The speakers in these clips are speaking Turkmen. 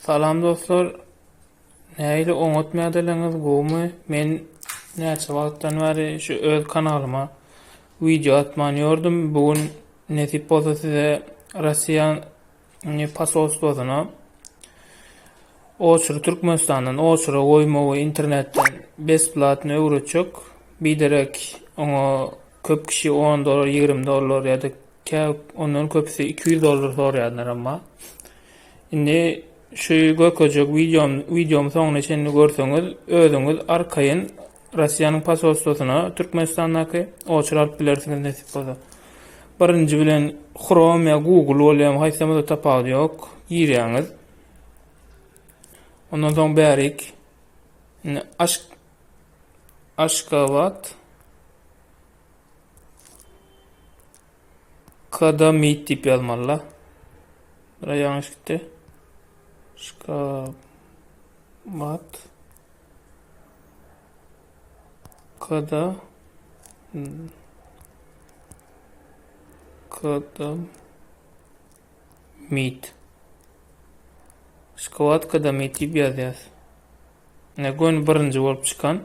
Salam dostlar. Nähili oňat mädeleňiz gowmy? Men näçe wagtdan bäri şu öz kanalyma wideo atman ýördüm. Bu gün nesip bolsa size Russiýa pasolstwosyna oçry Türkmenistandan oçry goýmagy internetden besplatny öwretjek. Biderek oňa köp kişi 10 dollar, 20 dollar ýa-da Kä ondan köpüsi iki ýüz dollar soraýanlar emma. Indi şu görkezjek wideom wideomy soňuna çenli görseňiz özüňiz arkaýyn Russiýanyň posolstwosyna Türkmenistandaky oçur alyp bilersiňiz nesip bolsa. Birinji bilen Chrome ýa Google bolýamy haýsamyzda tapawudy ýok girýäňiz. Ondan soň bärik Aşk Aşgabat Kada meet diýip ýazmalyda. Bura ýalňyş gitdi. Şkamat. Kada. Kada. mit. Skladkada mit diýip ýazýas. Ne göni birinji bolup çykan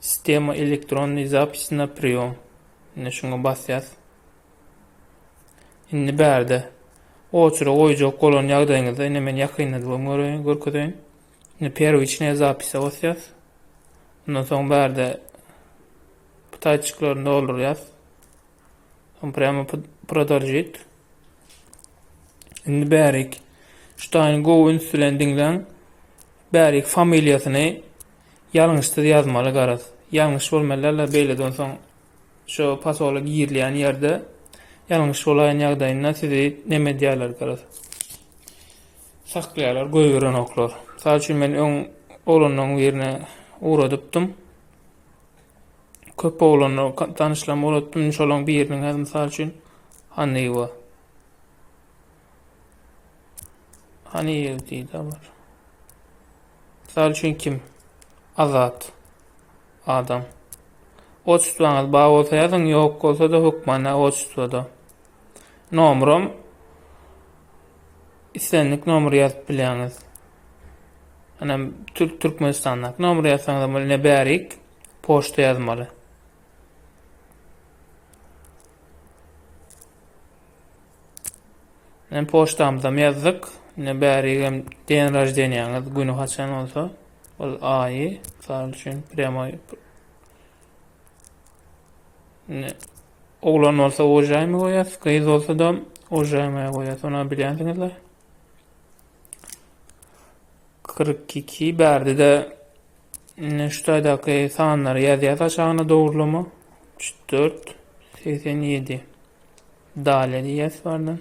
sistema elektronnyý zapis na priýom. Ne şuňa basýas. Indi bärde oçura goýjak bolan ýagdaýyňyzda ine men ýakynladybam göreýin, görkezeýin. Indi perwiçnäý zapise basýas. Ondan soň bärde pytaýçyklaryny doldurýas. Soň prýama prodorjit. Indi bärik şu taýyny gowy üns bilen diňläň. Bärik familiýasyny ýalňyşsyz ýazmaly garaz. Ýalňyş bolmalyla beýlede onsoň şu pasola girilýän ýerde ýalňyş bolaýan ýagdaýynda sizi neme edýärler garaz. Saklaýarlar goýberenoklar. Mysal üçin men öň oglanlaryň birine ugradypdym. köp oglanlar ka- tanyşlarym ugrutdym, şolaryň biriniň häzir mysal üçin Hanyýewa. Hanyýew diýdi bir. Mysal üçin kim? Azat adam. Otçuwaňyz bar bolsa ýazyň, ýok bolsa-da hökmany otçuwada. Nomram islendik nomeri ýazyp bilýäňiz. Ana Türk Türkmenistandaky nomeri ýazsaňyz hem ine bärik poçta ýazmaly. Men poçtamyza ýazdyk. Ine bärik hem den raždeniýaňyz güni haçan bolsa, ol aýy, mysal üçin, prýamoý Oglan bolsa uwažaýmy goýas, gyz bolsa-da uwažaýmaýa goýas. Ony bilýänsiňizler. Kyrk iki bärde-de şu taýdaky sanlary ýazýas aşagyna dogrulygyma. Üç, dört, segsen ýedi. Dalýa diýýäs bardan.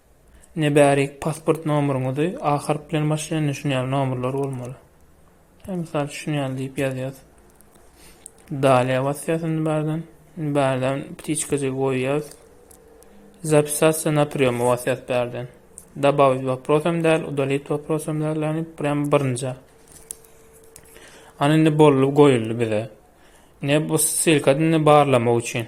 Ne bärik pasport nomuryňyzy A harp bilen başlaýan ne şuny ýaly nomerler bolmaly. He mysal üçin şuny ýaly diýip ýazýas. Daliýa basýas indi bärden. Indi bärden ptiçkajygy goýýas. Zapisatsa na priýomy basýas bärden. Dabawit wapros hem däl, udalit wapros hem däl, ýagny prýam birinjä. Ana indi boldy goýuldy bize. Ne bu silka indi barlamak üçin.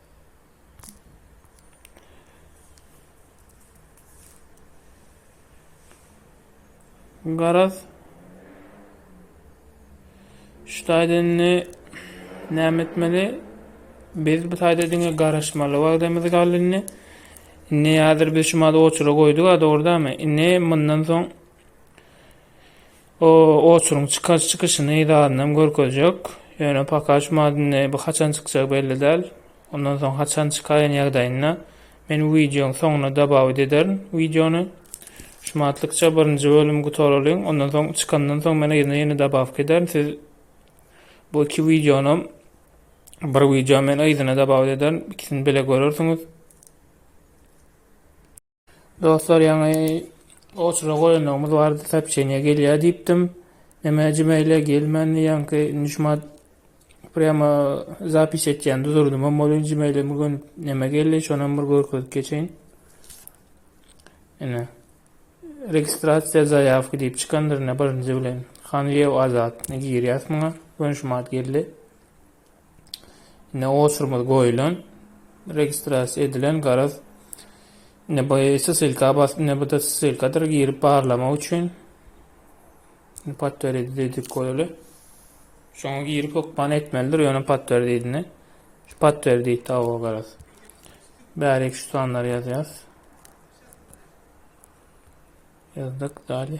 Garaz. Şu taýda indi näme etmeli? Biz bu taýda diňe garaşmaly wagtymyz galdy indi. Indi häzir biz şu maly oçura goýduk, a dogrudanmy? Indi mundan soň O oturyň çykaş çykyşyny dadynyam görkezjek. Ýöne poka şu maňa indi bu haçan çykjagy belli däl. Ondan soň haçan çykaýan ýagdaýynda men bu wideoň soňuna dabawit ederin wideony. Şu maňatlykça birinji bölüm gutaralyň. Ondan soň çykandan soň men yzyna ýene dabawka ederin. Siz bu iki wideonam bir wideo men yzyna dabawit ederin. Ikisini bile görersiňiz. Dostlar ýaňy oçura goýanlygymyz bardy sapçeniýa gelýä diýipdim. Näme Gmail-e gelmändi ýaňky nişma prýama zapis etýän duzurdymam welin Gmail-ime gönüp näme geldi şonam bir görkezip geçeýin. Ine. Registrasiýa zaýawki diýip çykandyr ine birinji bilen. Hanýew Azat girýäs muňa gönşumat geldi. Ine oçurymyz goýulan, registrasiýa edilen, garaz ine bu ssylka bas, ine bu da ssylkadyr girip barlamak üçin. Patweridi dedik goýaly. Şoňa girip hökman etmelidir, ýöne patwerdidini. Şu patwerdid tawa garaz. Bäri şu sanlary ýazýas. Ýazdyk, dali.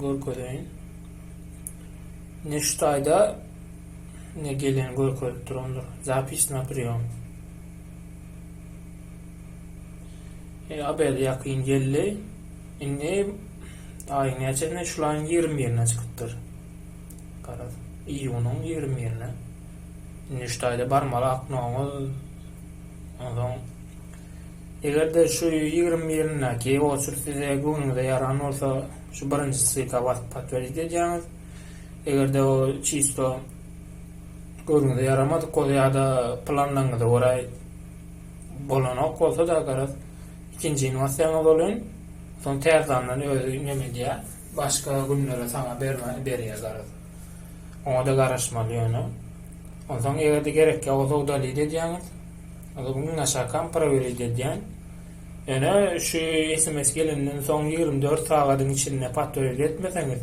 Görkezeýin. Neştaýda ne gelen görkezip durandyr. Zapis na priýom. E, abel ýakyn geldi. Indi aýyň näçesine şul aýyň 21-ne çykypdyr. Garaz, iýunyň 21-ne. Neştaýda barmaly aknoňyz. Onsoň Eger-de şu ýigrimi birindäki oçer size göwnüňize ýaran bolsa, şu birinji sylka basyp potwerdit edýäňiz. Eger-de ol çisto göwnüňize ýaramadyk bolsa ýa-da planlaryňyza görä bolanok bolsa-da garaz, ikinjini basýaňyz bolýan. Soň täzdandan özi neme edýär, başga günlere saňa berýär garaz. Oňa-da garaşmaly ýöne. Onsoň eger-de gerekýä bolsa udalить edýäňiz. Gymnaşakam prowerit edýän. Ýöne şu sms gelenden soň ýigrimi dört sagadyň içinde potwredi etmeseňiz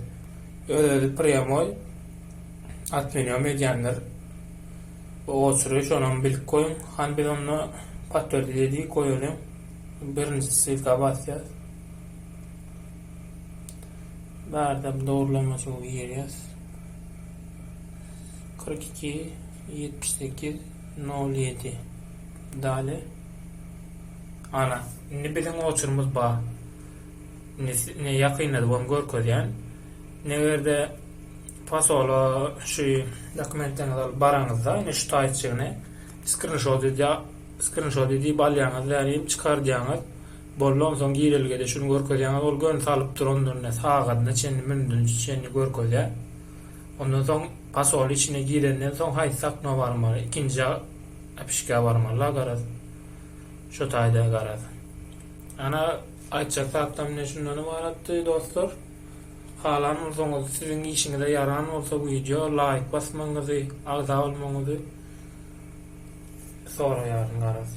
öz-özi prýamoý otmenýom edýändir. Bu oçury şonam bilip goýuň. Han biz onda potwerdit edýäs goýalyň. Birinji ssylka basýas. Bardam dogrulanmaçyny girýäs. Kyrk iki ýetmiş sekiz Nol ýedi. Dali. Ana, indi biziň oçurymyz bar. Indi si, ne ýakynladyp hem görkezýän. Negerde pasola şu dokumentleriňizi alyp baraňyzda, ine şu taýçygyny skrinşot edip, skrinşot edip alýaňyz, weli çykardýaňyz. Boldy, onsoň girelgede şuny görkezýäňiz, ol göni salyp durandyr, ine sagadyna çenli, münüdinçe çenli görkezýär. Ondan soň pasoly içine girenden soň haýsy akna barmaly ikinji apişkä barmalyda garaz şo taýda garaz. Ana aýtjak zatlam mine şundan ybaratdy dostlar. Halan bolsaňyz siziň işiňize ýaran bolsa wideo laýk basmagyňyzy agza bolmagyňyzy soraýaryn garaz.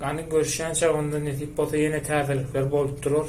Gany görüşýän çagynda nesip bolsa ýene täzelikler bolup durar.